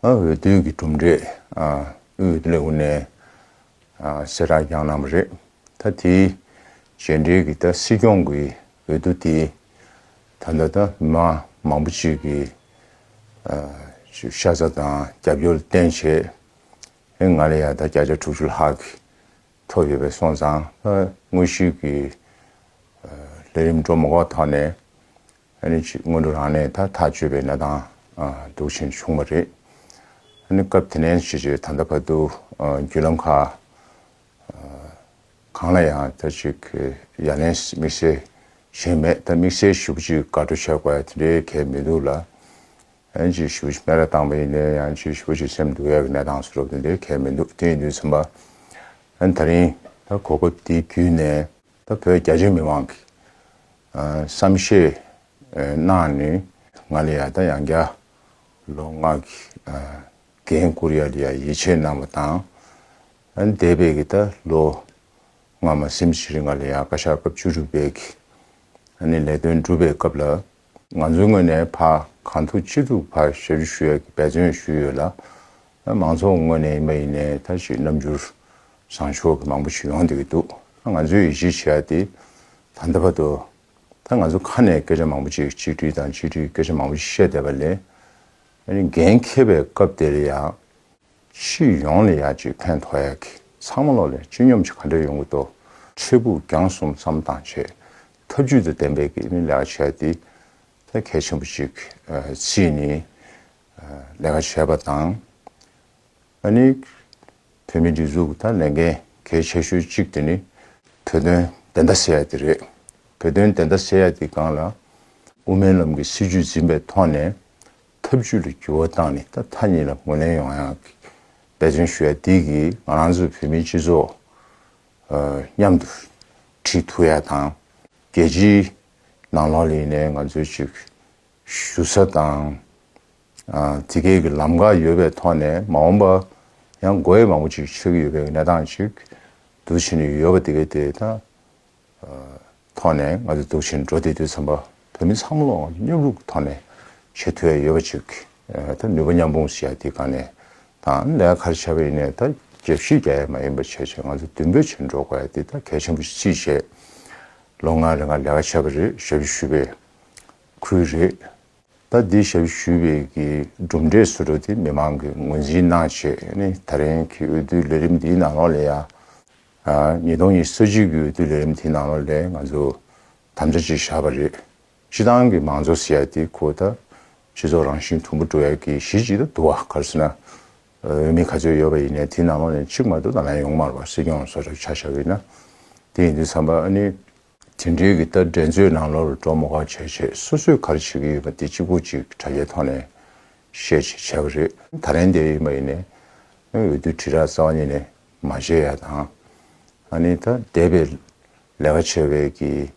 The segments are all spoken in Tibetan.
འོས་བསྡུ་གྱི་གྲུབ་འབྲས་དབུས་ལྷོ་ནས་གསལ་བསྒྲགས་ཀྱང་གནང་བ་རེད། ད་དེའི་རྗེས་འབྲེལ་གྱིས་ད་སྲིད་སྐྱོང་གི་འོས་བསྡུ་དེ་ད་ལྟ་ད་མི་མང་མང་པོ་ཞིག་གིས་ཤ་ཚ་དང་རྒྱབ་སྐྱོར་བརྟན་བྱས། ང་ལ་ཡང་ད་བརྒྱ་ཆ་དྲུག་ཅུ་ལྷག་གིས་ཐོབ་ཡོད་པའི་སོང་ཙང་ལྷོ་དངོས་གཞིའི་ལས་རིམ་འགྲོ་མ་གོ་ཐོག་ནས་ཨ་ཅིག་སྔོན་འགྲོ་རང་ནས་ད་ཐག་གཅོད་པའི་ན་ཐང་དུག་ཆེན་བྱུང་བ་རེད། སྐབས་དེ་ནས་ཕྱི་རྗེས་ད་ལྟ་བར་དུ་བརྒྱུད་ལམ་ཁག་གང་ལ་ཡང་ད་ཅིག་ཡ་ལན་དམིགས་བསལ་ཞུས་མེད་ད་དམིགས་བསལ་ཞུ་གཅིག་དགའ་སྤྲོ་ཆགས་པ་དེ་འདྲའི་གལ་མི་འདུག་ལ། ཨ་ཅིག་ཞུ་གཅིག་སྨད་ར་བཏང་བ་ཡིན་ནའི་ཡང་ཅིག་ཞུ་གཅིག་སེམས་སྡུག་ཡ་བའི་ན་ཐང་བཟོ་རོགས་དེ་འདྲའི་གལ་མི་འདུག་དེ་ཡིན་དུས་མཚམས་པ་ད་རིང་ད་གོ་སྐབས་འདི་བརྒྱུད་ནས། ད་བོད་རྒྱ་ཆེའི་མི་མང་གིས་བསམ་ཤེས་གནང་ནི། ང་ལ་ཡང་ད་ཡང་བརྒྱ་ལོ་ལྔ་གི་རྒན་བཀུར་ཡ་ལི་ཡ་ཡིད་ཆེས་གནང་བ་དང། འདས་པའི་གི་ད་ལོ་ང་མ་སེམས་ཤེས་རིག་ང་ལ་ཡང་བཀའ་ཤག་སྐབས་བཅུ་དྲུག་པའི་གི་ནས་ལས་དོན་སྒྲུབ་པའི་སྐབས་ལ། ང་ཚོའི་ངོས་ནས་ཕ་གང་ཐུག་ཅི་ཐུག་ཕ་བྱེད་རུ་ཞུ་ཡ་གི་འབད་བརྩོན་ཞུས་ཡོད་ལ། མང་ཚོགས་ངོས་ནས་ཡིན་པ་ཡིན་ནའི་ད་ཅིག་རྣམ་འགྱུར་བཟང་ཕྱོགས་ཀྱི་མང་པོ་ཞིག་ཡོང་སྡོད་ཀྱི་འདུག་ད་ང་ཚོས་ཡིད་ཆེས་བྱེད་ཡ་དེ་ད་ལྟ་བར་དུ། ད་ང་ཚོ་ཁ་ནས་སྐད་ཆ་མང་པོ་ཅིག་གཅིག་སྒྲིལ་དང་གཅིག་སྒྲིལ་སྐད་ཆ་མང་པོ་ཞིག་བཤད་བསྡད་པ་ལས། འགན་འཁྱེར་བའི་སྐབས་དེ་ལ་ཡང། ཕྱི་ཡོང་ལ་ཡ་གཅིག་ཕན་ཐོག་ཡ་གི་ཚང་མ་ལོག་ལས་སྤྱི་སྙོམས་ཀྱི་ག་འདྲ་ཡོང་གི་འདུག་འཕྲལ་ཕུགས་རྒྱང་གསུམ་བསམ་སྟངས་བྱས་ཐབས་ཇུས་དང་ལྡན་པའི་ལས་ཀ་བྱས་ཏེ། གལ་ཆེན་པོ་གཅིག་ཕྱིས་ནས་ལས་ཀ་བྱས་པ་དང། ད་ནི་བོད་མིའི་སྒྲིག་འཛུགས་དང་ལས་འགན་གལ་ཆེ་ཤོས་གཅིག་དེ་ནི། བོད་དོན་བདེན་མཐའ་སེལ་ཡ་དེ་རེད། བོད་དོན་བདེན་མཐའ་སེལ་ཡ་དེ་གང་ལ། དབུ་མའི་ལམ་གྱི་སྲིད་ཇུས་འཛིན་པའི་ཐོག་ནས་ཐབས་ཇུས་ལ་འགྱུར་བ་བཏང་ནས་ད་ཐ་སྙད་ལ་ངོས་ལེན་ཡོང་ཡག་འབད་བརྩོན་ཞུ་ཡ་དེ་གིས་ང་རང་ཚོ་བོད་མིའི་སྤྱི་ཚོགས། མཉམ་དུ་ཁྲིད་ཐུབ་ཡ་དང། རྒྱལ་སྤྱིའི་ནང་ལོགས་ལས་ནས་ང་ཚོའི་ཅིག་ཞུ་ས་དང། དེ་གའི་གི་ལམ་ཁ་ཡོད་པའི་ཐོག་ནས་མ་འོངས་པ་ཡང་དགོས་ཡས་མང་པོ་ཅིག་ཆགས་ཀྱི་ཡོད་པའི་གནས་སྟངས་ཅིག་དུ་ཕྱིན་ཡོད་པ་དེ་གའི་དེ་ད། ཐོག་ནས་ང་ཚོས་འཛུགས་ཕྱིར་འགྲོ་བསྡད་དུས་ཚན་པ་བོད་མི་ཚང་མ་སྙོབ་ལུགས་ཐོག་ནས་ཆེས་མཐོའི་ཡོད་པ་ཅིག་ད་ནུས་པ་མཉམ་སྤུངས་སུ་ཡ་དེ་ག་ནས་དང་ལས་ག་རེ་བྱས་པ་ཡིན་ནས་ད་རྒྱབ་བཤིག་རྒྱ་ཡས་མ་ཡིན་པ་བྱས་བྱས་ང་ཚོ་མདུན་བོད་ཕྱིར་འགྲོ་དགོས་ཡ་དེ་ད་གལ་ཆེན་པོ་ཅིག་བྱས་ལོ་ལྔ་རེ་འགའ་ལས་ཀ་བྱས་པ་རེད་ཞབས་ཞུ་ཞུས་པའི་ཁུལ་རེད་ད་དེ་ཞབས་ཞུ་ཞུས་པའི་གི་གྲུབ་འབྲས་སུ་འགྲོ་དེ་མི་མང་གི་ངོས་འཛིན་གནང་བྱས་ནས་ད་རིང་གི་འོས་བསྡུ་ལས་རིམ་འདིའི་ནང་ལོགས་ལས་ཡ། ཉིས་སྟོང་ཉེར་གསུམ་གྱི་འོས་བསྡུ་ལས་རིམ་དེའི་ནང་ལོགས་ལས་ང་ཚོ་དམ་བཅའ་གཅིག་བཞག་པ་རེད། སྤྱི་བཏང་གི་མང་གཙོ་ཟེར་ཡ་དེ་ཁོ་ད་སྤྱི་ཚོགས་རང་བཞིན་དུམ་བུ་བཀྲོལ་ཡ་གི་གཞི་གཅིག་ཏུ་བསྡུ་བ་ག་རེ་ཟེར་ན། འོས་མི་ག་ཚོད་ཡོད་པ་ཡིན་ནའི་དེའི་ནང་ལོགས་ནས་གཅིག་མ་གཏོགས་ད་ལན་ཡོང་མར་བ་སྲིད་སྐྱོང་སོགས་ཆ་བཞག་ཡོད་ན། དེ་ཡིན་དུས་བསམ་པ་ཨ་ནི། དེ་འདྲའི་གི་ད་འགྲན་རྩོད་ནང་ལོགས་ལ་འགྲོ་མོ་ག་བྱས་བྱས་སོ་སོས་ག་རེ་བྱེད་ཀྱི་ཡོད་པ་དེ་གཅིག་པོ་གཅིག་དྲ་རྒྱའི་ཐོག་ནས་བཤད་བྱས་བྱས་པ་རེད། ད་ལན་དེ་ཡིན་པ་ཡིན་ནའི། འོས་བསྡུ་དྲིལ་བསྒྲགས་རྩ་བ་ཉིད་ནས་མ་བརྗོད་ཡ་དང། ཨ་ནི་ད་འདས་པའི་ལས་ཀ་བྱེད་པའི་གི་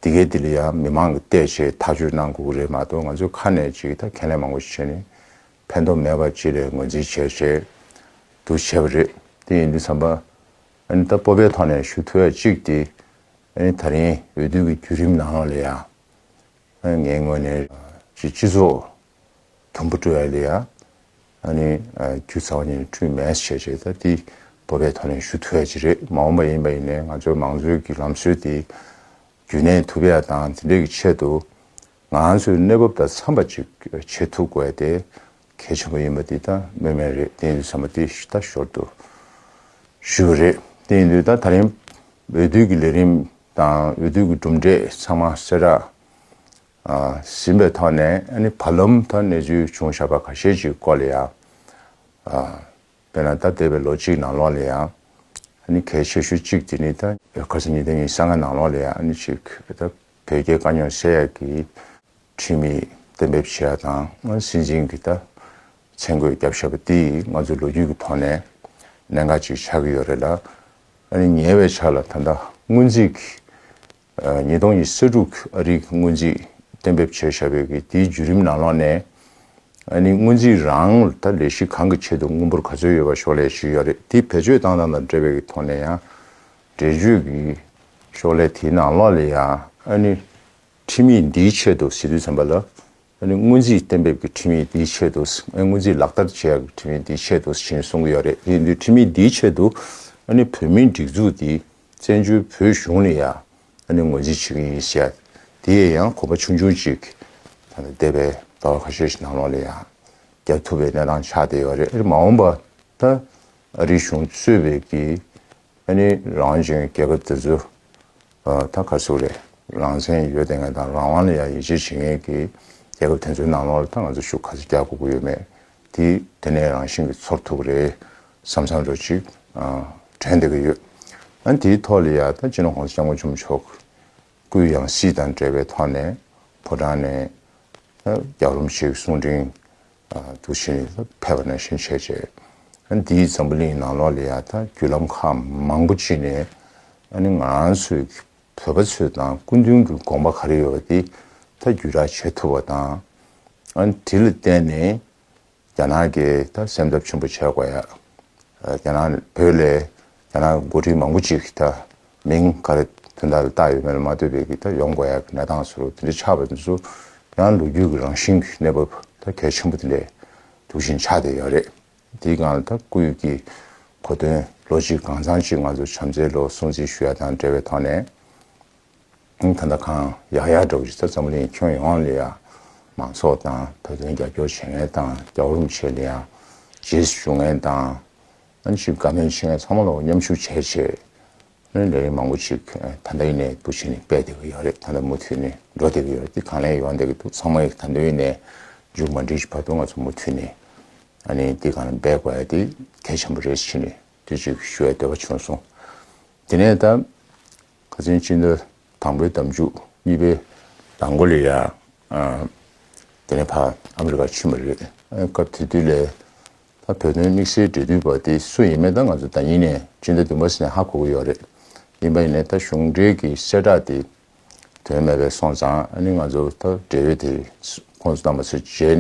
འདི་གའི་འདི་ལ་ཡང་མི་མང་གི་བལྟས་བྱས་ཐག་གཅོད་གནང་དགོས་ཀྱི་རེད་མ་གཏོགས་ང་ཚོའི་ཁ་ནས་ཅིག་ད་ཁས་ལེན་མང་པོ་བྱས་ནས་ཕན་ཐོག་མེད་པ་ཅིག་ལས་ངོས་འཛིན་བྱས་བྱས་དུ་བྱས་པ་རེད་དེ་ཡིན་དུས་བསམ་པ། ཨ་ནི་ད་སྤོབས་པའི་ཐོག་ནས་ཞུ་ཐུ་བས་ཅིག་དེ་ཨ་ནི་ད་རིང་འོས་བསྡུ་གི་བརྒྱུད་རིམ་ནང་ལ་ཡང་ངའི་ངོས་ནས་ཅིག་སྤྱི་ཚོགས་དང་པོ་སྤྲོད་ཡ་ལེ་ཡ། ཁྱོད་ཚ་བ་ནས་ཁྲུས་མས་བྱས་བྱས་ད་དེ་བོད་པའི་ཐོག་ནས་ཞུ་ཐུབ་ཡ་ཅི་རེད་མ་འོངས་པ་ཡིན་པ་ཡིན་ནའི་ང་ཚོའི་མང་གཙོའི་གི་ལམ་སྲོལ་དེ་རྒྱུན་གནས་ཐུབ་ཡ་དང་དེ་འདྲའི་གི་ཆེད་དུ་ང་ཚོའི་གནས་བབ་དང་འཚམས་པ་ཅིག་བྱེད་ཐུབ་དགོས་ཡ་དེ་གལ་ཆེན་པོ་ཡིན་པ་དེ་ད་སྨོས་མེད་རེད་དེ་ཡིན་དུས་ཚང་མ་དེ་ད་ཞོར་དུ་ཞུས་པ་རེད་དེ་ཡིན་དུས་ད་ད་རིང་འོས་བསྡུ་གི་ལས་རིམ་དང་འོས་བསྡུ་གི་གྲུབ་འབྲས་ཚང་མ་གསལ་བསྒྲགས་ཟིན་པའི་ཐོག་ནས་བར་ལམ་དུ་གནས་ཚུལ་བྱུང་བཞག་པ་ཁ་ཤས་ཀྱི་སྐོར་ལ་ཡང། དཔེར་ན་ད་འདས་པའི་ལོ་གཅིག་ནང་ལོགས་ལ་ཡང། གལ་ཆེ་ཤོས་གཅིག་དེ་ནི་ད་ག་ཟེར་ཉིན་དེ་ཉིན་གསང་སྔགས་ནང་ལོགས་ལ་ཡང་གཅིག་བོད་རྒྱའི་དཀའ་རྙོག་སེལ་ཡག་གི་ཁྲིམས་མིས་གཏན་འབེབས་བྱས་ཡག་དང་སྲིད་འཛིན་གྱིས་ད་མཚན་བཀོད་རྒྱབ་བཞག་པ་དེས་ང་ཚོའི་ལོ་རྒྱུས་ཀྱི་ཐོག་ནས་གནད་འགག་ཅིག་ཆགས་ཀྱི་ཡོད་རེད་ལ། ཉེ་བའི་ཆ་ལ་ད་ལྟ་སྔོན་རྩིས་ཀྱི་ཉིས་སྟོང་ཉི་ཤུ་དྲུག་ཨ་རིག་སྔོན་རྩིས་གཏན་འབེབས་བྱས་བཞག་པའི་གིས་དེའི་བརྒྱུད་རིམ་ནང་ལོགས་ནས། ཨ་ནི་སྔོན་རྩིས་རང་ལྟ་ལས་གཞི་གང་གི་ཆེད་དུ་དངུལ་འབོར་ག་ཚོད་ཡོད་པ་ཤོག་ལས་ཞུས་ཡོད་རེད་དེ་བེད་སྤྱོད་བཏང་སྟངས་དང་འབྲེལ་བའི་གི་ཐོག་ནས་ཡང་འགྲེལ་བརྗོད་གི་ཤོག་ལས་དེའི་ནང་ལོགས་ལས་ཡང་ཨ་ནི་ཁྲིམས་ཡིག་འདིའི་ཆེད་དུ་ཟིན་ཐོའི་ཚན་པ་ལ། ད་ནི་སྔོན་རྩིས་གཏན་འབེབས་ཀྱི་ཁྲིམས་ཡིག་འདིའི་ཆེད་དུ། སྔོན་རྩིས་ལག་བསྟར་བྱེད་ཡག་གི་ཁྲིམས་ཡིག་འདིའི་ཆེད་དུ་ཞེས་གསུང་གི་ཡོད་རེད་དེ་འདུལ་ཁྲིམས་ཡིག་འདིའི་ཆེད་དུ། ད་ནི་བོད་མིའི་སྒྲིག་འཛུགས་འདིས་བཙན་བྱོལ་བོད་གཞུང་ནས་ཡང་ད་ནི་ངོས་འཛིན་བྱེད་ཀྱི་ཡིན་ཞེས་ཡ་དེ་ཡི་ཡང་གོམ་པ་ཆུང་ཆུང་ཅིག་ད་ནི་འདས་པའི་ཟླ་བ་ཁ་ཤས་ཤིག་ནང་ལོགས་ལས་ཡང་བརྒྱབ་ཐུབ་པའི་གནས་སྟངས་ཆགས་བསྡད་ཡོད་རེད་མ་འོངས་པ་ད་ཨ་རིའི་གཞུང་གཙོས་བོད་ཀྱི་ཨ་ནི་རང་བྱུང་སྐྱེ་ཁམས་དེ་ཚོ་ད་ག་ཚོད་རེད་རང་བཙན་ཡོད་དེ་ངས་དང་རང་དབང་ལ་ཡང་ཡིད་ཆེས་བྱེད་ངེས་ཀྱི་རྒྱལ་ཁབ་དེ་ཚོའི་ནང་ལོགས་ལ་ད་ང་ཚོ་ཤུགས་ག་ཚོད་རྒྱག་དགོས་ཀྱི་ཡོད་མེད་དེ་དེ་ནས་རང་བཞིན་གྱི་ཚོར་ཐུབ་ཀྱི་རེད་བསམ་བསམ་རོ་ཅིག་དྲན་བསྡད་ཀྱི་ཡོད་ཨ་དེའི་ཐོག་ལ་ཡ་ད་ཅི་ནས་ཁོང་ཚོ་སྐྱབས་མགོན་ཆུ་མོ་མཆོག་གུས་ཡང་སྲིད་དང་འབྲེལ་བའི་ཐོག་ནས་ཕོ་བྲང་ནས་ད་རྒྱག་རོམ་ཞིག་གསུང་དྲིན་དུ་བྱིན་རླབས་འཕེལ་བ་ནང་བཞིན་བྱས་རྗེས། འདིའི་འཛམ་བུ་གླིང་ནང་ལོགས་ལ་ཡང་དང་བརྒྱུད་ལམ་ཁག་མང་པོ་སྤྱི་ནས་ང་ཚོའི་བོད་པ་ཚོས་དང་སྐུ་མདུན་གྱི་དགོངས་པ་ག་རེ་ཡོད་པ་དེ་དག་བརྒྱུད་བསྒྲགས་བྱེད་ཐུབ་པ་དང། དེ་ལ་བརྟེན་ནས་རྒྱ་ནག་གིས་སེམས་འཚབ་ཆེན་པོ་བྱས་དགོས། རྒྱ་ནག་བོད་ལས། ཡང་ན་འགོ་ཁྲིད་མང་པོ་ཅིག་ད་མིང་ག་རེ་དོན་དག་རེ་བཏགས་ཡོད་མེད་ལ་མ་ལྟོས་པའི་ད་ཡོང་དགོས་ཡག་གི་གནས་སྟངས་ཟེར་བ་དེ་འདྲ་ཆགས་པ་འདི་ཚོ་ཡང་ལོ་རྒྱུས་ཀྱི་རང་བཞིན་གྱི་གནས་བབ་ད་གལ་ཆེན་པོ་དེ་ལས་དུག་ཤིང་ཆགས་བསྡད་ཡོད་རེད། དེའི་སྒང་ལ་ད་སྐུལ་ཡོད་ཀྱི་གོ་དོན་ལོ་ཅིག་གང་ཚང་ཅིག་ང་ཚོ་བྱམས་བརྩེའི་ལོ་སྲུང་བརྩི་ཞུ་ཡ་དང་འབྲེལ་བའི་ཐོག་ནས་ད་ལྟ་གང་ཡག་ཡག་འདྲ་བོ་ཅིག་ད་འཛམ་གླིང་ཁྱོན་ཡོངས་ལ་ཡང་མང་ཚོགས་དང་ད་དུང་རྒྱབ་སྐྱོར་བྱེད་མཁན་དང་རྒྱབ་རོམ་བྱེད་ལ་ཡང་རྗེས་སུ་ཞུ་མཁན་དང། ཨན་ཞིག་དགའ་མོས་བྱེད་མཁན་ཚང་མ་ལ་མཉམ་ཞུགས་བྱས་རྗེས། ལས་རིགས་མང་པོ་ཞིག་ད་ལྟ་ཡིན་ནའི་འདུ་བྱེད་ནི་སྤེལ་བསྡད་ཀྱི་ཡོད་རེད་ད་ལྟ་མུ་མཐུད་ནས་འགྲོ་བསྡད་ཀྱི་ཡོད་རེད་དེ་གང་ལེགས་ཡོང་བསྡད་ཀྱི་འདུག་ཚང་མ་ཡིན་ད་ལྟ་ཡིན་ནའི་མཇུག་མ་འགྲིལ་གྱི་བར་དུ་ང་ཚོ་མུ་མཐུད་ནས་ཨ་ནི་འདི་གང་ལ་འབད་དགོས་ཡ་དེ་གལ་ཆེན་པོ་རེད་ཕྱི་ནས་དུས་གཅིག་ཞུ་བའི་འདོད་པ་བྱུང་སོང། དེ་ནས་ད་ག་ཚོད་ཕྱི་ཟླ་དང་པོའི་ཟླ་མཇུག་གཉིས་པའི་ལང་གོ་ལི་ཡ་དེ་ནས་ཕ་ཨ་མི་རི་ཀ་ཕྱིན་པ་རེད། སྐབས་དེ་དུས་ལས། ད་བོད་དོན་དམིགས་བསལ་འབྲེལ་མཐུད་པ་དེ་སུ་ཡིན་མིན་ད་ང་ཚོ་ད་ཉིན་ནས་ཅི་འདྲ་འདུན་པ་ཞིག་ལ་ཧ་གོ་གི་ཡོད་རེད། ཡིན་པ་ཡིན་ནས་ད་གཞུང་འབྲེལ་གྱི་བཤད་སྒྲགས་དེ་དོན་མེད་པའི་སོང་ཙང་ཨ་ནི་ང་ཚོ་ད་འབྲེལ་ཡོད་དེ་ཁོང་ཚོ་དང་མ་ཚོས་མཇལ་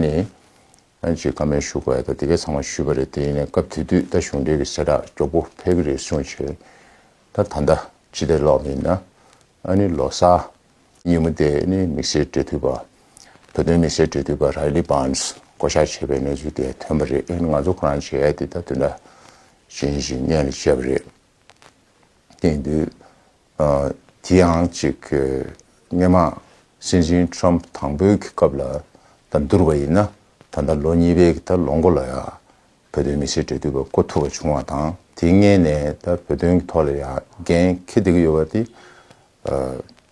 ནས་ཅི་ཀ་མེད་ཞུ་དགོས་ཡོད་ད་དེ་གས་ཚང་མ་ཞུས་པ་རེད་དེ་ཡིན་ནས་སྐབས་དེ་དུས་ད་གཞུང་འབྲེལ་གྱི་བཤད་སྒྲགས་མགྱོགས་པོ་ཕེབས་ཀྱི་རེད་གསུངས་བྱས། ད་ད་ལྟ་ཅི་བདེ་ལོག་མིན་ན་ཨ་ནི་ལོ་སར། ཉིན་མོ་དེ་ནི་མི་སེར་འབྲེལ་མཐུད་པ། བོད་དོན་མི་སེར་འབྲེལ་མཐུད་པ Riley Barnes བསྐོ་གཞག་བྱས་པའི་གནས་ཚུལ་དེ་ཐོན་པ་རེད་ཨེ་ང་ཚོ་ཁོ་རང་བྱས་དེ་ད་དུས་འདྲ་ཞན་ཞིག་གནས་ལ་ཆས་པ་རེད། དེང་དུས་དེ་ཡང་ཅིག་སྣེ་མང་སྲིད་འཛིན Trump དང་པོའི་གི་སྐབས་ལ་ད་འདུར་བ་ཡིན་ན་ད་ལོ་གཉིས་པའི་གི་ད་ལོ་མགོ་ལ་ཡང་བོད་དོན་མི་ཤེས་འདྲེ་འདུལ་བ་བསྐོ་ཐུབ་པ་བྱུང་བ་དང་དེ་མངལ་ནས་ད་བོད་དོན་གྱི་ཐོག་ལ་ཡང་འགན་འཁྱེར་བསྡད་ཀྱི་ཡོད་པ་དེ།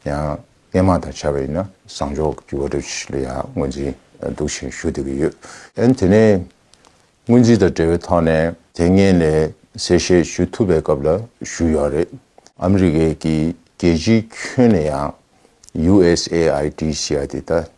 ཡང་སྨྱན་མང་དང་བྱ་བ་ཡིན་ན་བཟང་ཕྱོགས་ཀྱི་བར་དོ་ཞིག་ལ་ཡང་དངོས་འཛིན་འདུག་བཞིན་ཞུ་བསྡད་ཀྱི་ཡོད། ཡང་དེ་ནས་དངོས་འཛིན་དང་འབྲེལ་བའི་ཐོག་ནས་དེ་མངལ་ནས་གསལ་བཤད་ཞུ་ཐུབ་པའི་སྐབས་ལ་ཞུ་ཡོད་རེད། ཨ་མི་རི་ཀའི་གི་རྒྱལ་སྤྱིའི་ཁྱོན་ནས་ཡང USAID ཞེས་པ་དེ་ད་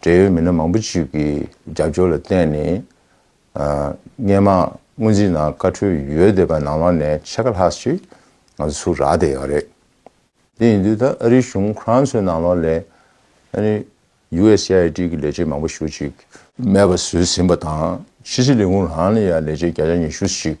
འབྲེལ་ཡོད་མི་སྣ་མང་པོ་ཞིག་གི་རྒྱབ་སྐྱོར་ལ་བརྟེན་ནས། སྨྱན་མ་སྔོན་རྩིས་ནང་བཀའ་འཁྲོལ་ཡོད་བསྡད་པ་ནང་བ་ནས་ཕྱེད་ཀ་ལྷག་ཅིག་ང་ཚོ་ཚུར་རག་བསྡད་ཡོད་རེད། དེ་ཡིན་དུས་ད་ཨ་རིའི་གཞུང་ཁོ་རང་ཚོའི་ནང་ལོགས་ལས། USAID གི་ལས་བྱེད་མང་པོ་ཞུ་ཅིག། མེད་པ་བཟོས་ཟིན་པ་དང་ཕྱི་སྲིད་ལས་ཁུངས་ལའང་ལས་བྱེད་བརྒྱ་ཆ་ཉི་ཤུ་ཞིག་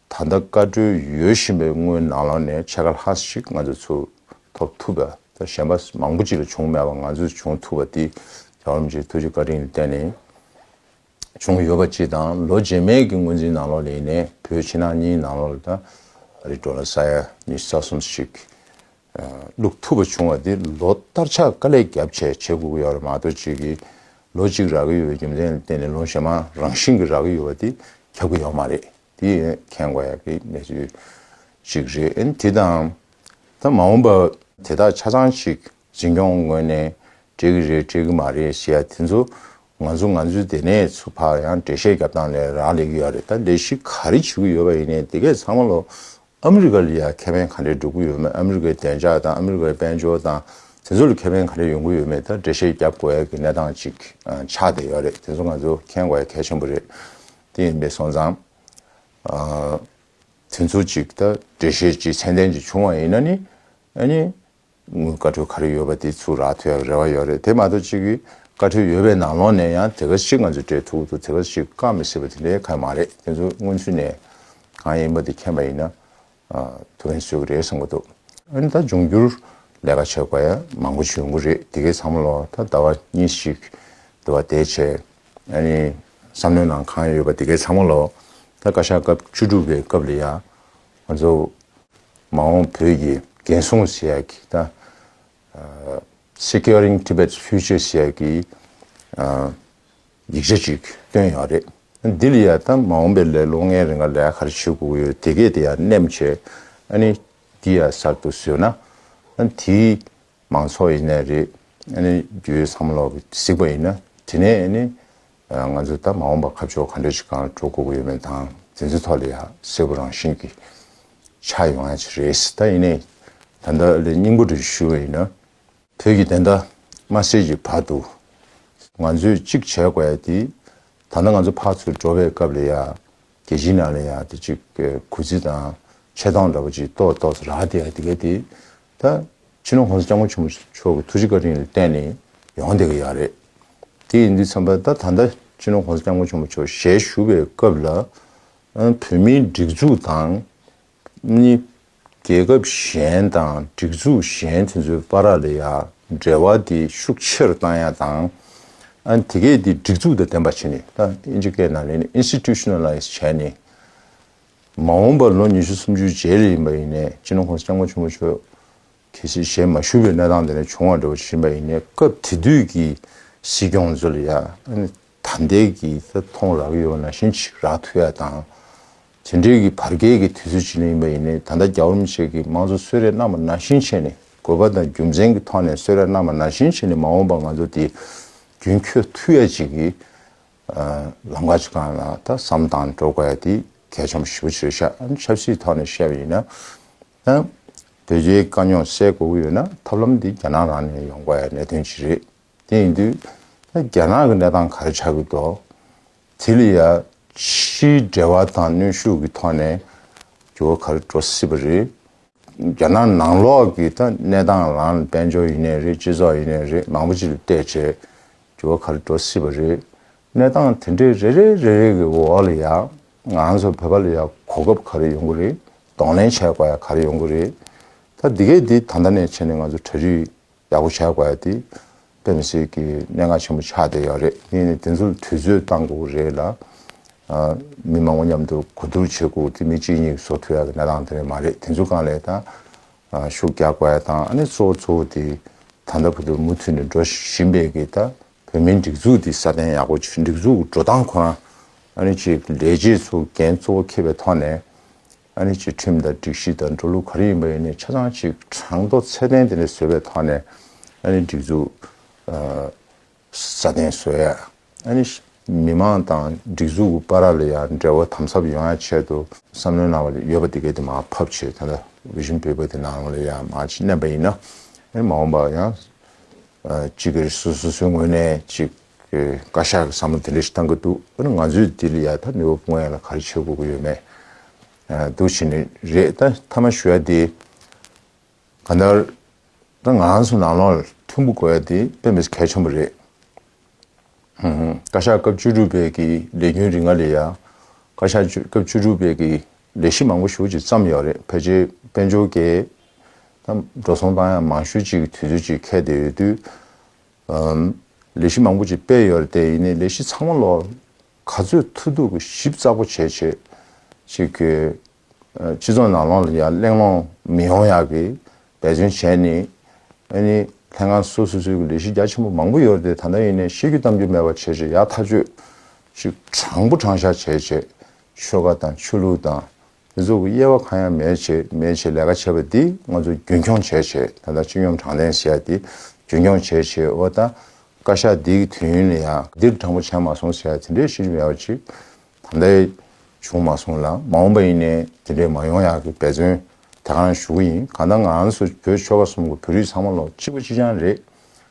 ད་ལྟ་བཀའ་འཁྲོལ་ཡོད་བཞིན་པའི་དངུལ་ནག་ལོང་ནས་ཆ་ག་ལྷག་ཞིག་ང་ཚོས་ཚུར་ཐོབ་ཐུབ་པ་དང་གཞན་པ་མང་པོ་ཅི་ལ་བྱུང་མེད་པ་ང་ཚོས་བྱུང་ཐུབ་པ་འདི་རྒྱ་གར་མི་ཆེན་ཐུགས་རྗེ་བཀའ་དྲིན་ལ་བརྟེན་ནས་བྱུང་ཡོད་པ་སྤྱི་དང་ལོ་རྗེས་མའི་གི་དངུལ་འཛིན་ནང་ལོག་ལས་ནས་བོད་ཕྱི་ནང་གཉིས་ནང་ལོག་ལ་ད་རེས་འགྲོ་ན་ས་ཡ་གཉིས་ས་གསུམ་ཞིག་བླུགས་ཐུབ་པ་བྱུང་བ་འདི་ལོ་ལྟར་ཆ་ག་ལས་རྒྱབ་ཆད་བྱེད་དགོས་ཀྱི་ཡོད་རེད་མ་གཏོགས་ཅིག་གིས་ལོ་གཅིག་རག་གི་ཡོད་པའི་རྒྱུ་མཚན་ལ་བརྟེན་ནས་ལོ་ཞེ་མང་རང་བཞིན་གྱི་རག་གི་ཡོད་པ་འདི་ཁྱབ་ཀྱི་ཡོད་མ་རེད། དེ་མཁྱེན་དགོས་ཡག་གི་གནས་ཚུལ་ཞིག་རེད། དེ་དང། ད་མ་འོངས་པར་དེ་དག་ཆ་ཚང་ཞིག་འཛིན་སྐྱོང་ངོས་ནས་སྤྲད་ཀྱི་རེད་སྤྲད་ཀྱི་མ་རེད་ཞེས་ཡ་དེ་ཚོ་ང་ཚོ་ང་ཚོའི་སྡེ་ནས་ཚུར་ཕར་ཡང་འགྲེལ་བཤད་བརྒྱབ་སྟངས་ལས་རག་ལས་ཀྱི་ཡོད་རེད་ད་ལས་གཞི་ག་རེ་བྱེད་ཀྱི་ཡོད་པ་ཡིན་ནའི་དེ་གས་ཚང་མ་ལོ་ཨ་མི་རི་ཀ་ལ་ཡང་ཁེ་ཕན་ག་འདྲས་སྒྲུབ་ཀྱི་ཡོད་མེད་ཨ་མི་རི་ཀའི་བདེ་འཇགས་དང་ཨ་མི་རི་ཀའི་དཔལ་འབྱོར་དང་དེ་ཚོ་ལ་ཁེ་ཕན་ག་འདྲས་ཡོང་གི་ཡོད་མེད་ད་འགྲེལ་བཤད་བརྒྱབ་དགོས་ཡག་གི་གནས་སྟངས་ཅིག་ཆགས་བསྡད་ཡོད་རེད་དེ་ཚོ་ང་ཚོ་མཁྱེན་དགོས་ཡག་གལ་ཆེན་པོ་རེད། དེ་ཡིན་པའི་སོང་ཙང། དེ་ཚོ་ཅིག་ད་འགྲེལ་བཤད་ཅིག་ཚད་ལྡན་ཅིག་བྱུང་བ་ཡིན་ན་ནི། ཨཱ་ནི། བཀའ་ཁྲོལ་ག་རེ་ཡོད་པ་དེ་ཚུར་རག་ཐུབ་ཡག་རེ་བ་ཡོད་རེད་དེ་མ་གཏོགས་ཅིག་གིས་བཀའ་ཁྲོལ་ཡོད་པའི་ནང་ལོགས་ནས་ཡང་དེ་ག་ཞིག་ང་ཚོས་སྤྲད་ཐུབ་འདུག་དེ་ག་ཞིག་བཀག་མི་སྲིད་པ་དེ་འདྲའི་ག་ཡང་མ་རེད་དེ་ཚོ་སྔོན་ཚུད་ནས་གང་ཡིན་པ་དེ་མཁྱེན་པ་ཡིན་ན། ཐུ་བྷན་སུ་རེད་བསམ་གི་འདུག་ཨ་ནི་ད་འབྱུང་འགྱུར་ལས་ཀ་བྱེད་པ་ཡང་མང་པོ་བྱུང་གི་རེད་དེ་གའི་ཚང་མ་ལ་ད་ཟླ་བ་གཉིས་ཤིག་འདུག་བ་དེ་བྱས་ཨ་ནི་བསམ་བློའི་ནང་གང་ཡོད་པ་དེ་གའི་ཚང་མ་ལ་ད་བཀའ་ཤག་སྐབས་བཅུ་དྲུག་པའི་སྐབས་ལ་ཡང་ང་ཚོ་མ་འོངས་བོད་ཀྱི་འགན་སྲུང་ཟེར་ཡག་གི་ད Securing Tibet's Future ཟེར་ཡག་གི་ཡིག་ཆ་གཅིག་སྟོན་ཡོང་རེད། འདི་ལ་ཡང་ད་མ་འོངས་པའི་ལས་ལོ་ལྔའི་རིང་ལ་ལས་ག་རེ་བྱེད་དགོས་ཡོད་དེ་གས་དེ་ཡང་སྣེམ་བྱས། ཨ་ནི་འདི་ཡང་གསར་དུ་བཟོས་ན། དེ་མང་ཚོགས་ཡིན་ནའི་རེད། ཨ་ནི་རྒྱུའི་བསམ་བློ་གཟིགས་པ་ཡིན་ན་དེ་ནས་ཨ་ནི་ང་ཚོ་ད་མ་འོངས་པ་ཁ་ཕྱོགས་ག་འདྲ་ཞིག་གང་འགྲོ་དགོས་ཡོད་མེད་དང་དེ་ཚོའི་ཐོག་ལ་ཡང་གསལ་བོ་རང་བཞིན་གྱིས་ཆགས་ཡོང་ཡ་ཆེ་རེད། ད་ཡིན་ནའི་ད་ལྟ་ལས་སྙིང་པོ་འདྲ་ཞུ་བ་ཡིན་ན། བོད་ཀྱི་བདེན་མཐའ་མ་སེལ་གྱི་བར་དུ། ང་ཚོས་གཅིག་བྱེད་དགོས་ཡ་དེ། ད་ལྟ་ང་ཚོ་ཕར་ཚུར་འགྲོ་བའི་སྐབས་ལ་ཡ། རྒྱལ་སྤྱིའི་ནང་ལ་ཡ་དེ་གཅིག་གུས་བརྩི་དང་ཆེ་མཐོང་འདྲ་པོ་གཅིག་གཏོར་གཏོར་ཟེར་ར་དེ་ཡ་དེ་ག་དེ། ད་ཕྱི་ནང་གོང་ས་སྐྱབས་མགོན་ཆེན་པོ་མཆོག་གི་ཐུགས་རྗེ་བཀའ་དྲིན་ལ་བརྟེན་ནས་ཡོང་དེ་ག་ཡ་རེད། དེ་ཡིན་དུས་མཚམས་པ་ད་ད་ལྟ་ཕྱི་ནང་གོང་ས་སྐྱབས་མགོན་ཆེན་པོ་མཆོག་ཞལ་བཞུགས་པའི་སྐབས་ལ། བོད་མིའི་སྒྲིག་འཛུགས་དང། གཉིས། རྒྱལ་ཁབ་གཞན་དང་སྒྲིག་འཛུགས་གཞན་དེ་ཚོའི་པ་ར་ལ་ཡ་འབྲེལ་བ་དེ་ཤུགས་ཆེར་བཏང་ཡ་དང། དེ་གས་དེ་སྒྲིག་འཛུགས་དང་ལྡན་པ་བྱས་ནས་ད་ཨིན་ཇི་སྐད་ནང་ལེན་ནི Institutionalize བྱས་ནས། མ་འོངས་པར་ལོ་ཉི་ཤུ་སུམ་ཅུའི་རྗེས་ལས་ཡིན་པ་ཡིན་ནས་ཅི་ནུ་ཁོང་སྐྱབས་མགོན་ཆེན་པོ་མཆོག་གས་ཆེ་བཞེས་མ་ཞུས་པའི་གནས་སྟངས་དེ་ནས་བྱུང་བ་འདྲ་བ་ཇི་བཞིན་པ་ཡིན་ནས་སྐབས་དེ་དུས་ཀྱི་སྲིད་སྐྱོང་ཚོ་ལ་ཡ་ད་ལྟའི་གི་རྩ་ཐོང་རག་ཡོད་པ་ན་ཤིན་ཅིག་རག་ཐུ་ཡ་དང། དེ་འབྲེལ་གི་བར་བརྒལ་གི་དུས་ཚོད་ཅིག་ལ་ཡིན་པ་ཡིན་ནས་ད་ལྟ་རྒྱ་བོད་མི་བཅས་ཀྱི་མང་གཙོ་གསོལ་རས་རྣམས་པ་ན་ཤིན་ཆད་ནས་དགོས་པ་དང་རྒྱུ་མཚན་གི་ཐོག་ནས་གསོལ་རས་རྣམས་པ་ན་ཤིན་ཆད་ནས་མ་འོངས་པ་ང་ཚོ་དེ་རྒྱུན་འཁྱོལ་ཐུ་ཡ་ཅིག་གི་ལམ་ཁ་ཅིག་གང་ལ་ད་བསམ་སྟངས་འགྲོ་དགོས་ཡ་དེ་གལ་ཆེན་པོ་ཞིབ་པོ་བྱེད་ཤག་ཨང་ཆབ་སྲིད་ཐོག་ནས་བཤད་པ་ཡིན་ན་ཨང། བོད་རྒྱའི་དཀའ་རྙོག་སེལ་དགོས་ཀྱི་ཡོད་ན་ཐབས་ལམ་དེ་རྒྱ་ནག་རང་ནས་ཡོང་དགོས་ཡ་གནད་དོན་ཅིག་རེད། དེ་ཡིན་དུས་ད་རྒྱ་ནག་གི་གནས་སྟངས་ག་རེ་ཆགས་ཀྱི་འདུག་དེ་ལ་ཡ་ཕྱིའི་འབྲེལ་བ་དང་གནོན་ཤུགས་ཀྱི་ཐོག་ནས་འགྱུར་བ་ག་རེ་འགྲོ་སྲིད་པ་རེད། རྒྱ་ནག་ནང་ལོགས་ཀྱི་ད་གནས་སྟངས་ལ་དཔལ་འབྱོར་ཡིན་ནས་རེད་སྤྱི་ཚོགས་ཡིན་ནས་རེད་མང་པོ་ཅི་ལ་བལྟས་བྱས་འགྱུར་བ་ག་རེ་འགྲོ་སྲིད་པ་རེད། གནས་སྟངས་དེ་འདྲའི་རེ་རེ་རེ་རེ་གི་འོག་ལ་ཡ་ང་ཚོ་བོད་པ་ལ་ཡ་གོ་སྐབས་ག་རེ་ཡོང་གི་རེད་གདོང་ལེན་བྱས་དགོས་ཡ་ག་རེ་ཡོང་གི་རེད། ད་འདི་གས་འདི་ད་ལྟ་ནས་བྱས་ནས་ང་ཚོ་གྲ་སྒྲིག་ཡག་པོ་བྱ་དགོས་ཡ་དེ་དཔེ་མི་སྲིད་ཀྱི་མན་ངག་ཆེན་པོ་ཆགས་བསྡད་ཡག་རེད་ངས་ནི་དེ་ཚོ་དུས་ཚོད་བཏང་དགོས་ཀྱི་རེད་ལ། མི་མང་པོ་མཉམ་དུ་གོ་བསྡུར་བྱེད་དགོས་ཀྱི་མི་གཅིག་གཉིས་བཟོ་ཐུབ་ཡག་གི་གནས་སྟངས་དེ་འདྲ་མ་རེད་དེ་ཚོ་གང་ལས་དང་ཤུགས་རྒྱག་དགོས་ཡ་དང་ཨ་ནི་གཙོ་བོ་གཙོ་བོ་དེ་ད་ལྟ་བུ་དུ་མུ་མཐུད་ནས་འགྲོ་བཞིན་པའི་གི་ད་བོད་མིའི་སྒྲིག་འཛུགས་དེ་སྲ་བརྟན་ཡག་པོ་སྒྲིག་འཛུགས་འགྲོ་སྟངས་ཁོ་རང་ཨ་ནི་ཅིག་ལས་རྗེས་སུ་འགན་གཙོ་བོ་ཁེབས་པའི་ཐོག་ནས་ཨ་རིའི་སྤྱི་ཁྲིམས་དང་སྒྲིག་གཞི་དང་འགྲོ་ལུགས་ག་རེ་ཡིན་པ་ཡིན་ནའི་ཆ་ཚང་ཞིག་གྲངས་མདོ་ཚད་ལྡན་དེ་འདྲ་བཟོས་པའི་ཐོག་ནས་ཨ་རིའི་སྒྲིག་འཛུགས་སྲ་བརྟན་བཟོས་ཡ། ཨ་རིའི་མི་དམངས་དང་སྒྲིག་འཛུགས་ཀྱི་པ་ར་ལ་ཡང་འབྲེལ་བ་དམ་ཟབ་ཡོང་ཡ་ཆེད་དུ་བསམ་བློའི་གནང་བ་ལས་ཡོད་པ་དེ་གའི་དེ་མ་ཕབ་ཆེད་ད་ལྟ Vision Paper དེ་ནང་ལ་ཡང་མ་ཅིག་བསྣན་པ་ཡིན་ན། མ་འོངས་པ་ཡང་ཅིག་གིས་སོ་སོའི་ངོས་ནས་ཅིག་ཁོས་བཀའ་ཤག་གི་བསམ་བློ་དེ་འདྲ་ཞིག་བཏང་གི་འདུག་དཔེར་ན་ང་ཚོའི་འདི་ལ་ཡང་ད་ནུས་བ་སྤུངས་ཡ་ལ་ག་རེ་བྱེད་དགོས་ཀྱི་ཡོད་མེད་འདུག་བྱས་ནི་རེད་ད་མཐའ་མ་ཞུ་ཡ་དེ་ག་ནར་རང་ངང་སུ་ནང་ལོག་ལ་ཐུག་འབུ་དགོས་ཡ་དེ་དཔེ་མི་ས་གལ་ཆེན་པོ་རེད། བཀའ་ཤག་སྐབས་བཅུ་དྲུག་པའི་གི་ལས་རྒྱུན་རིང་ང་ལས་ཡ་བཀའ་ཤག་སྐབས་བཅུ་དྲུག་པའི་གི་ལས་གཞི་མང་པོ་ཞུ་ཅིག་བརྩམས་ཡོད་རེད་ཕལ་ཆེར་དཔལ་འབྱོར་གས་ད་འགྲོ་སོང་བཏང་ཡ་མང་ཤོས་ཅིག་གི་དུས་ཚོད་ཅིག་ཁད་དེ་ཡོད་དུས་ལས་གཞི་མང་པོ་ཅིག་སྤེལ་ཡོད་རེད་དེ་ནས་ལས་གཞི་ཚང་མ་ལོར་ག་ཚོད་མཐུ་བསྡུ་གི་ཞིབ་ཚགས་པོ་བྱེད་བྱེད་ཅིག་གི། སྤྱི་ཚོགས་ནང་ལོང་ལ་ཡང་གླེང་སློང་མི་ཡོང་ཡག་གི་འབད་བརྩོན་བྱས་ནས་ཨེ་ནི་ལྷན་ཁང་སོ་སོ་སོའི་གི་ལས་གཞི་རྒྱ་ཆེན་པོ་མང་པོ་ཡོད་རེད་དེ་ད་ལྟ་ཡིན་ནས་བཤད་རྒྱུ་གཏམ་རྒྱུ་མེད་པ་བྱེད་བྱེད་ཡག་ཐག་གཅོད་ཅིག་དྲང་པོ་དྲང་བཞག་བྱེད་བྱེད་ཆོལ་ཁ་དང་ཆོས་ལུགས་དང་མི་ཚོགས་ཀྱི་དབྱེ་བ་གང་ཡང་མེད་ཅེས་མེད་ཅེས་ལས་ཀ་བྱེད་པ་འདི་ང་ཚོ་རྒྱུན་འཁྱོངས་བྱས་ཆེད་ད་ལྟ་སྤྱི་ཡོངས་དྲང་བདེན་ཟེར་ཡ་འདི་རྒྱུན་འཁྱོངས་བྱས་ཆེད་འོ་ད་བཀའ་ཤག་འདི་གི་དུས་ཡུན་ལ་ཡང་འདིར་དྲང་པོ་བྱས་མ་སོང་ཟེར་ཡ་དེ་འདྲའི་ཤེས་རྒྱུ་མེད་པ་ཅིག་ད་ལྟ་བྱུང་མ་སོང་ལ་མ་འོངས་པ་ཡིན་ནའི་དེ་འདྲའི་མ་ཡོང་ཡག་གི་འབད་བརྩོན་དེ་གང་ཞུ་གི་ཡིན་གང་ལྟར་ང་ཚོ་བོད་ཆོལ་ཁ་གསུམ་གྱི་བོད་རིགས་ཚང་མ་ལོ་གཅིག་པ་གཅིག་རྐྱང་རེད།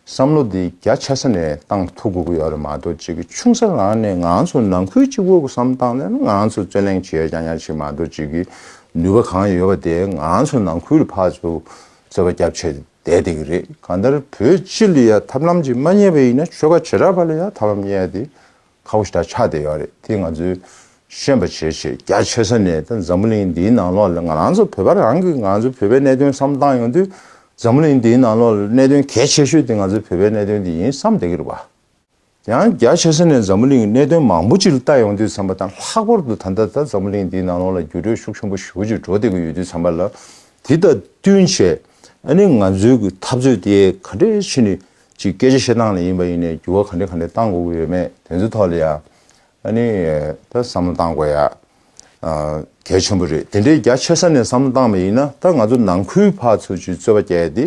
བསམ་བློ་འདི་རྒྱ་ཆེ་ས་ནས་བཏང་ཐུབ་དགོས་ཀྱི་ཡོད་རེད་མ་གཏོགས་ཅིག་གི་ཆུང་ས་རང་ནས་ང་ཚོ་ནང་ཁུལ་གྱི་དབུ་གསུམ་བཏང་ནས་ང་ཚོ་རྩོད་གླེང་བྱས་ཀྱང་ཡག་ཅིག་མ་གཏོགས་ཅིག་གི་ནུས་པ་གང་ཡོད་པ་དེ་ང་ཚོ་ནང་ཁུལ་ཕར་ཚུར་རྩོད་པ་རྒྱབ་ཆད་བསྡད་བསྡད་ཀྱི་རེད་གང་ལྟར་བོད་སྤྱི་ལ་ཡང་ཐབས་ལམ་ཅིག་མ་རྙེད་པ་ཡིན་ན་ཆོལ་ཁ་བྱེ་བྲག་པ་ལ་ཡང་ཐབས་ལམ་རྙེད་དེ་ཁ་བོ་ཞེ་དྲག་ཆགས་བསྡད་ཡོད་རེད་དེ་ང་ཚོའི་ཤེས་པ་ཆེ་ཆེ་རྒྱ་ཆེ་ས་ནས་ད་འཛམ་བུ་གླིང་འདིའི་ནང་ལོགས་ལ་ང་རང་ཚོ་བོད་པ་རང་གི་ང་ཚོ་བོད་པའི་གནད་དོན་བསམ་བཏང་ཡོང་དུས་འཛམ་བུ་གླིང་འདིའི་ནང་ལོགས་ལ་གནད་དོན་གལ་ཆེ་ཤོས་དེ་ང་ཚོའི་བོད་པའི་གནད་དོན་དེ་ཡིན་བསམ་བསྡད་ཀྱི་རེད་བ། དེ་ཡང་རྒྱ་ཆེ་ས་ནས་འཛམ་བུ་གླིང་གནད་དོན་མང་པོ་ཅིག་ལ་བལྟ་ཡོང་དུས་བསམ་པ་དང་ལྷག་པར་དུ་ད་ལྟ་ད་འཛམ་བུ་གླིང་འདིའི་ནང་ལོགས་ལ་འགྱུར་འགྲོས་ཤུགས་ཆེན་པོ་ཞུགས་ཀྱི་འགྲོ་བསྡད་ཀྱི་ཡོད་དུས་བསམ་པ་ལ་དེ་དང་བསྟུན་བྱས་ཨ་ནི་ང་ཚོའི་གི་འཐབ་རྩོད་དེ་ག་འདྲའི་ཕྱི་ནས་གཅིག་སྐད་ཆ་བཤད་སྟངས་ལ་ཡིན་པ་ཡིན་ནས་འགྱུར་བ་ག་འདྲི་ག་འདྲི་གཏང་དགོས་ཀྱི་ཡོད་མེད་དེ་ཚོའི་ཐོག་ལ་ཡང་ཨ་ནི་ད་བསམ་བློ་གཏང་དགོས་ཡ་གལ་ཆེན་པོ་རེད་དེ་འདྲའི་རྒྱ་ཆེ་ས་ནས་བསམ་བློ་གཏང་པ་ཡིན་ན་ད་ང་ཚོ་ནང་ཁུལ་བར་ཚོ་ཆུད་རྩོད་པ་བསྐྱལ་ཏེ་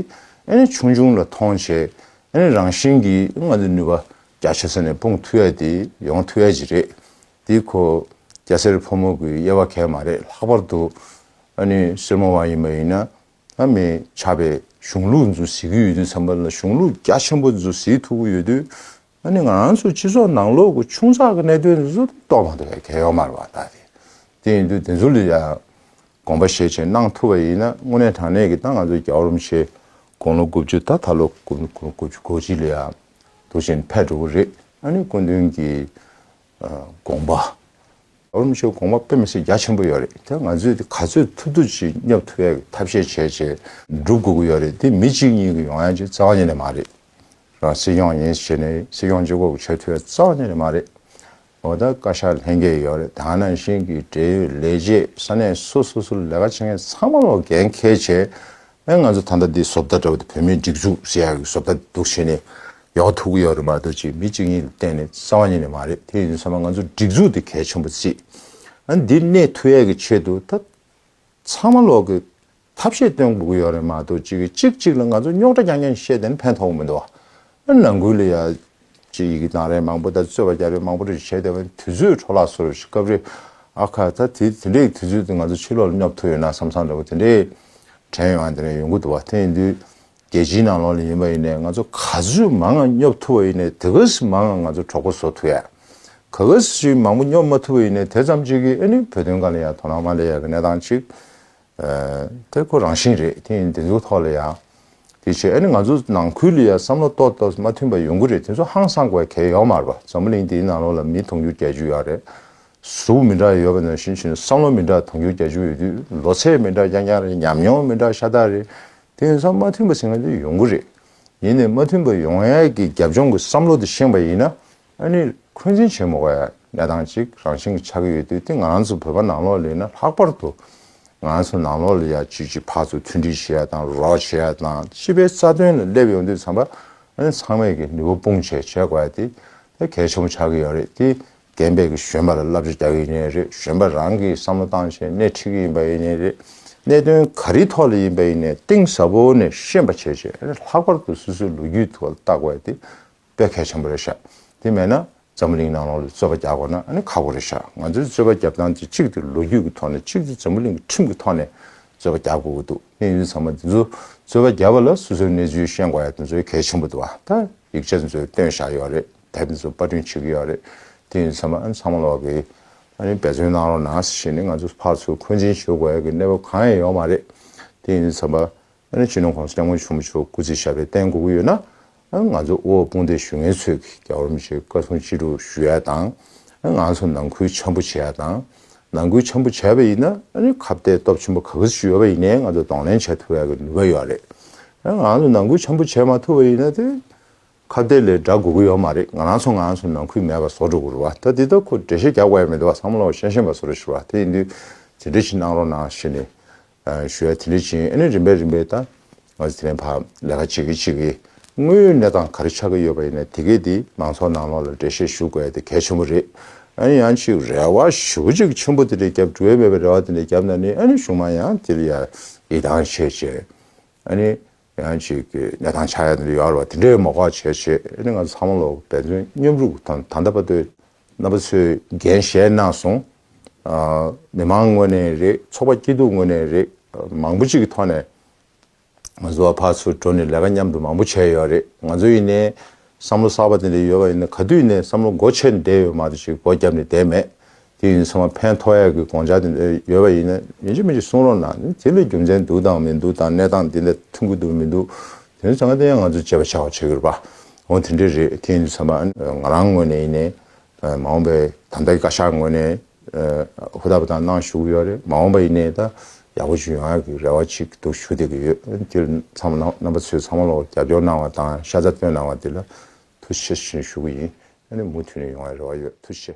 ཨ་ནི་ཆུང་ཆུང་ལ་མཐོང་བྱེད་ཨ་ནི་རང་བཞིན་གྱི་ང་ཚོའི་ནུས་པ་རྒྱ་ཆེ་ས་ནས་སྤུངས་ཐུ་ཡ་དེ་ཡོང་ཐུ་ཡ་ཅིག་རེད་དེ་ཁོ་སྐྱ་སེར་ཕོ་མོ་གི་དབྱེ་བ་གལ་མ་རེད་ལྷག་པར་དུ་ཨ་ནི་སེར་མོ་བ་ཡིན་པ་ཡིན་ན། ལྷ་མི་བྱ་བའི་གཞུང་ལུགས་འཛུགས་ཟེར་གྱི་ཡོད་དུས་བསམ་པ་ལ་གཞུང་ལུགས་རྒྱ་ཆེན་པོ་འཛུགས་ཟེར་ཐུབ་ཀྱི་ཡོད་དུས་ཨ་ནི་ང་རང་ཚོའི་སྤྱི་ཚོགས་ནང་ལོག་གི་ཆུང་ཚག་གི་གནད་དོན་འདི་ཚོ་ཏོག་ཏོག་མ་གཏོགས་གལ་ཡོད་མ་རེད་བ་ད་དེ་དེ་ཡིན་དུས་དེ་ཚོ་ལ་ཡང་དགོངས་པ་ཤས་ཆེ་གནང་ཐུབ་པ་ཡིན་ན་དངོས་གནས་དྲང་གནས་ཀྱི་ད་ང་ཚོ་རྒྱ་རོམ་ཤེས་དགོངས་ལོ་དགུ་བཅུ་ད་ད་ལོ་དགུ་བཅུ་གོ་གཅིག་ལ་ཡང་དུ་བཞིན་ཕེབས་འགྲོ་གི་རེད་ཨ་ནི་སྐུ་མདུན་གྱི་དགོངས་པ། འོ་ནུབ་ཆོས་དགོངས་པ་དཔེ་མི་སྲིད་རྒྱ་ཆེན་པོ་ཡོད་རེད་དེ་ང་ཚོས་དེ་ག་ཚོད་ཐུབ་ཐུབ་ཀྱིས་སྙབ་ཐུབ་ཡ་གི་ཐབས་ཤེས་བྱས་བྱས་འགྲུབ་དགོས་ཀྱི་ཡོད་རེད་དེ་མི་གཅིག་གཉིས་ཀྱི་ཡོང་ཡ་གཅིག་རྩ་བ་ཉིད་ནས་མ་རེད། རང་སྲིད་སྐྱོང་ཡིན་ཞེས་ནས་སྲིད་སྐྱོང་ཅི་དགོས་བྱེད་ཐུབ་ཡ་རྩ་བ་ཉིད་ནས་མ་རེད། འོ་ད་བཀའ་ཤག་ལྷན་རྒྱས་ཡོད་རེད་དང་ནང་བཞིན་གྱི་འབྲེལ་ཡོད་ལས་བྱེད་ས་གནས་སོ་སོ་སུ་ལས་ཀ་བྱེད་མཁན་ཚང་མ་ལོག་འགན་འཁེལ་བྱས་ང་ཚོ་ད་ལྟ་འདི་བཟོ་ལྟ་འདྲ་བོ་འདི་བོད་མིའི་སྒྲིག་འཛུགས་ཞེས་ཡག་གི་བཟོ་ལྟ་འདི་འདུག་བྱས་ནས་ཡོང་ཐུབ་གི་ཡོད་རེད་མ་གཏོགས་ཅིག་མི་གཅིག་གཉིས་ལ་བརྟེན་ནས་གསང་བ་ཉིད་ནས་མ་རེད་དེ་ཡིན་ཚང་མ་ང་ཚོ་སྒྲིག་འཛུགས་འདི་གལ་ཆེན་པོ་གཅིག་ཨ་འདི་གནས་ཐུ་ཡས་ཀྱི་ཆེད་དུ་ད་ཚང་མ་ལོག་གི་ཐབས་ཤེས་བཏོན་དགོས་ཀྱི་ཡོད་རེད་མ་གཏོགས་ཅིག་གཅིག་གཅིག་ལ་ང་ཚོ་རྙོག་དྲ་རྐྱང་རྐྱང་བཤད་དེ་ནི་ཕན་ཐོག་མི་འདུག་ཨ་ནང་ཁུལ་ལ་ཡ་ཅེས་ཡི་གེ་དང་རས་མང་པོ་དང་རྩོད་པ་རྒྱ་རི་མང་པོ་རེ་བྱས་དེ་དུས་ཚོད་འཕྲོ་བརླག་སོར་སྐབས་རེ་ཨ་ཁ་ད་དེ་འདྲའི་དུས་ཚོད་དུ་ང་ཚོ་ཕྱི་ལོག་ལ་སྙོབ་ཐུབ་ཡོད་ན་བསམ་བསམ་འདྲ་བོ་དེ་འདྲའི་དྲན་ཡོང་ཨ་དེ་འདྲ་ཡོང་གི་འདུག་བ་དེ་ཡིན་དུས་རྒྱལ་སྤྱིའི་ནང་ལོག་ལ་ཡིན་པ་ཡིན་ནའི་ང་ཚོ་ག་ཚོད་མང་ང་སྙོབ་ཐུབ་བ་ཡིན་ནའི་དེ་ག་ཟི་མང་ང་ང་ཚོ་གྲོགས་པོ་བཟོ་ཐུབ་ཡ་ག་ག་ཟི་ཞིག་མང་པོ་སྙོབ་མ་ཐུབ་བ་ཡིན་ནའི་དེ་ཙམ་གཅིག་གིས་ཨ་ནི་བོད་དོན་ག་ལ་ཡ་དོ་སྣང་མ་ལས་ཡ་གི་གནས་སྟངས་གཅིག་དེ་ཁོ་རང་བཞིན་རེད་དེ་ཡིན་དེ་ཚོའི་ཐོག་ལ་ཡང་དེ་བྱས་ཨ་ནི་ང་ཚོ་ནང་ཁུལ་ལ་ཡང་བསམ་བློ་གཏོར་གཏོར་མ་མཐུན་པ་ཡོང་གི་རེད་དེ་ཚོ་ཧང་སང་དགོས་གལ་ཡོད་མ་རེད་པ་འཛམ་བུ་གླིང་འདིའི་ནང་ལོགས་ལ་མི་དུང་ཕྱུར་བརྒྱད་ཅུ་ཡང་རེད་གཟུགས་མི་འདྲ་ཡོད་པ་ནང་བཞིན་བཞིན་བསམ་བློ་མི་འདྲ་དུང་ཕྱུར་བརྒྱད་ཅུ་ཡོད་དུས་ལོ་ཚད་མི་འདྲ་རྐྱང་རྐྱང་རེད་ཉམས་མྱོང་མི་འདྲ་ཤ་སྟག་རེད་དེ་ཡིན་ཙང་མ་མཐུན་པ་ཟེར་ང་ཚོ་ཡོང་གི་རེད་ཡིན་ནས་མ་མཐུན་པ་ཡོང་ཡས་ཀྱི་རྒྱབ་ལྗོངས་ཀྱི་བསམ་བློ་དེ་ཤེས་པ་ཡིན་ན་ཨ་ནི་འཁོན་འཛིན་ཆེན་མོ་བའི་གནས་སྟངས་གཅིག་རང་བཞིན་གྱི་ཆགས་ཀྱི་ཡོད་དུས་དེ་ང་ཚོ་བོད་པ་ནང་ལོགས་ལས་ནི་ལྷག་པར་དུ་ང་ཚོ་ནང་ལོགས་ལས་ཡ་གཅིག་གཅིག་ཕག་ཚོ་མཐུན་སྒྲིལ་བྱེད་ཡ་དང་རོགས་བྱེད་ཡ་དང་སྤྱི་པའི་རྩ་དོན་ལ་སླེབས་ཡོང་དུས་ཚང་པ་ཨ་ནི་ཚང་མས་ཀྱི་ནུས་པ་སྤུངས་བྱས་བྱས་དགོས་ཡ་དེ་དེ་གལ་ཆེན་པོ་ཆགས་ཀྱི་ཡོད་རེད་དེ་རྒན་པས་ཀྱི་གཞོན་པ་ལ་བསླབ་བྱ་རྒྱག་གི་ཡིན་ཡ་རེད་གཞོན་པ་རང་གིས་བསམ་བློ་བཏང་བྱས་སྣེ་ཁྲིད་ཀྱི་ཡིན་པ་ཡིན་ཡ་རེད་གནད་དོན་ག་རེའི་ཐོག་ལ་ཡིན་པ་ཡིན་ནས་གཏིང་ཟབ་པོ་ནས་ཤེས་པ་བྱས་བྱས་ཨ་ནི་ལྷག་པར་དུ་སུ་སུའི་ལོ་རྒྱུས་ཐུགས་ལ་བཏགས་དགོས་ཡ་དེ་དཔེ་གལ་ཆེན་པོ་རེད་ཤག་དེ་མེད་ན་འཛམ་བུ་གླིང་ནང་ལོག་ལ་རྩོད་པ་རྒྱག་དགོས་ན་ནི་ཁག་པོ་རེད་ཤག་ང་ཚོའི་རྩོད་པ་རྒྱབ་སྟངས་དེ་གཅིག་དེ་ལོ་རྒྱུས་ཀྱི་ཐོག་ནས་གཅིག་དེ་འཛམ་བུ་གླིང་གི་ཁྲིམས་ཀྱི་ཐོག་ནས་རྩོད་པ་རྒྱག་དགོས་ཀྱི་འདུག་གནས་ཡུལ་ཚང་མ་འདི་ཚོ་རྩོད་པ་རྒྱབ་པ་ལ་སོ་སོའི་གནས་ཚུལ་ཤེས་དགོས་ཡ་དེ་ཚོའི་གལ་ཆེན་པོ་འདུག་ད་ཡིག་ཆ་དེ་ཚོ་བཏོན་བཞག་ཡོད་རེད་ད་དེ་ཚོ་པར་སྐྲུན་བྱེད་ཀྱི་ཡོད་རེད་དེ་ཡུལ་ཚང་མ་ཨ་ཚང་མ་ལོག་གི་ཨ་ནི་འབད་བརྩོན་གནང་རོགས་གནང་ཞེས་ནི་ང་ཚོ་ཕར་ཚུར་འཁོན་འཛིན་བྱེད་དགོས་ཡ་གི་གནས་བབ་གང་ཡང་ཡོད་མ་རེད་དེ་ཡུལ་ཚང་མ། ཨ་རིའི་སྤྱི་ནོར་ཁོངས་སུ་སྐྱབས་མགོན་ཆེན་པོ་མཆོག་སྐུ་ཚེ་ཞབས་པད་བརྟན་དགོས་ཀྱི་ཡོད་ན། ང་ཚོ་དབུལ་བོ་དཔུང་སྡེ་ཞུ་མཁན་ཚོས་རྒྱ་གར་མི་ཚོའི་བཀའ་སྲུང་ཅི་དྲུག་ཞུ་ཡ་དང། ང་ཚོ་ནང་ཁུལ་འཆམ་པོ་བྱེད་ཡ་དང། ནང་ཁུལ་འཆམ་པོ་བྱས་པ་ཡིན་ན་ཁ་བརྡའི་སྟོབས་ཆེན་པོ་ག་གེ་སུ་ཞིག་ཡོད་པ་ཡིན་ནའི་ང་ཚོ་གདོང་ལེན་བྱེད་ཐུབ་ཡ་གི་ནུས་པ་ཡོད་རེད། ང་ཚོ་ནང་ཁུལ་འཆམ་པོ་བྱེད་མ་ཐུབ་པ་ཡིན་ན་དེ་ཁ་བརྡའི་ལས་འདྲ་དགོས་ཀྱི་ཡོད་མ་རེད་ང་རང་ཚོ་ང་ཚོ་ནང་ཁུལ་མེད་པ་བཟོ་འགྲོ་གི་རུ་བ་ད་འདི་ལྟར་ཁོ་འགྲེལ་བཤད་རྒྱག་དགོས་ཡ་མི་འདུག་བསམ་བློ་ཤན་ཤན་པ་བཟོ་རེ་ཞུ་བ་དེ་འདུས། དེ་འདྲ་ཞིག་གནང་རོགས་གནང་ཞེས་ནས། ཞུ་བ་དེ་འདྲ་བྱིན་ཨེ་ནས་རིམ་པས་རིམ་པས་ད། ང་ཚོ་དེ་རིང་བར་ལས་ཀ་བྱེད་ཀྱི་བྱེད་ཀྱི། དངོས་ཡོད་གནས་སྟངས་ག་རེ་ཆགས་ཀྱི་ཡོད་པ་ཡིན་ན་དེ་གས་དེ་མང་ཚོགས་ནང་ལོགས་ལ་འགྲེལ་བཤད་ཞུ་དགོས་དེ་གལ་ཆེན་པོ་རེད། ཨ་ནི་ཡང་ཅིག་རེ་བ་ཞུ་གཅིག་ཆེན་པོ་དེ་འདྲ་རྒྱབ་འགྲོ་ཡ་མེད་པའི་རེ་བ་དེ་འདྲ་རྒྱབ་ན་ནི་ཨ་ནི་གཞུང་མང་ཡང་དེ་ལ་ཡང་ཡི་དྭངས་བྱེད་ཆེད། ཨ་ནི་ཡང་ཅིག་གི་གནས་སྟངས་ཆགས་ཡ་དེ་འདྲ་ཡོད་རེ་བ་དེ་འདྲའི་མོ་འགོག་བྱེད་ཆེད་ཨ་ནི་ང་ཚོ་ཚང་མ་ལོགས་པས་མཉམ་རུབ་དང་ད་ལྟ་བར་དུ། རྣམ་པ་ཚོས་འགན་བཞེས་གནང་སོང། མི་མང་ངོས་ནས་རེད་ཚོགས་པ་སྐྱིད་སྡུག་ངོས་ནས་རེད་མང་པོ་ཅིག་གི་ཐོག་ནས། ང་ཚོ་བ་ཕ་ཚོ་འགྲོ་ནས་ལས་ཀ་མཉམ་དུ་མང་པོ་བྱས་ཡོད་རེད་ང་ཚོ་ཡིན་ནའི། བསམ་བློ་གསར་པ་དེ་འདྲ་ཡོད་པ་ཡིན་ན་ག་དུས་ནས་བསམ་བློ་སྒོ་ཕྱེ་ནས་བསྡད་ཡོད་མ་གཏོགས་ཅིག་སྒོ་བརྒྱབ་ནས་བསྡད་མེད། དེ་ཡིན་ཚང་མ་ཕན་ཐོགས་ཡས་ཀྱི་དགོངས་འཇགས་དེ་འདྲ་ཡོད་པ་ཡིན་ན་ཡིན་གཅིག་མིན་གཅིག་གསུང་རོགས་གནང་དེ་འདྲ་རྒྱུ་མཚན་འདུག་དང་མི་འདུག་དང་གནས་སྟངས་དེ་འདྲ་ཐུག་གི་འདུག་མི་འདུག་དེ་ནས་ད་ང་དེ་ང་ཚོས་བྱས་པ་ཆགས་བྱས་གྱུར་པ། འོ་དེ་འདྲས་རེད་ཐེངས་འདི་ཚང་མ་ང་རང་ངོས་ནས་ཡིན། མ་འོངས་པའི་ད་ལྟ་གི་བཀའ་ཤག་ངོས་ནས་ཧུར་ཐག་པ་དང་གནང་ཞུ་གི་ཡོད་རེད་མ་འོངས་པ་ཡིན་ནའི་ད་ཡག་པོ་ཞིག་ཡོང་ཡག་གི་རེ་བ་ཅིག་འདུག་ཞུ་བསྡད་ཀྱི་ཡོད་དེ་ཚང་མ་རྣམ་པ་ཚོས་ཚང་མ་ལ་རྒྱབ་སྐྱོར་གནང་བ་དང་ཤ་ཚ་བཏོན་གནང་བ་དེ་ལ་ཐུགས་ཆེ་ཞེས་ཞུ་གི་ཡིན། མུ་མཐུད་ནས་ཡོང་བའི་རེ་བ་ཡོད་ཐུགས་ཆེ།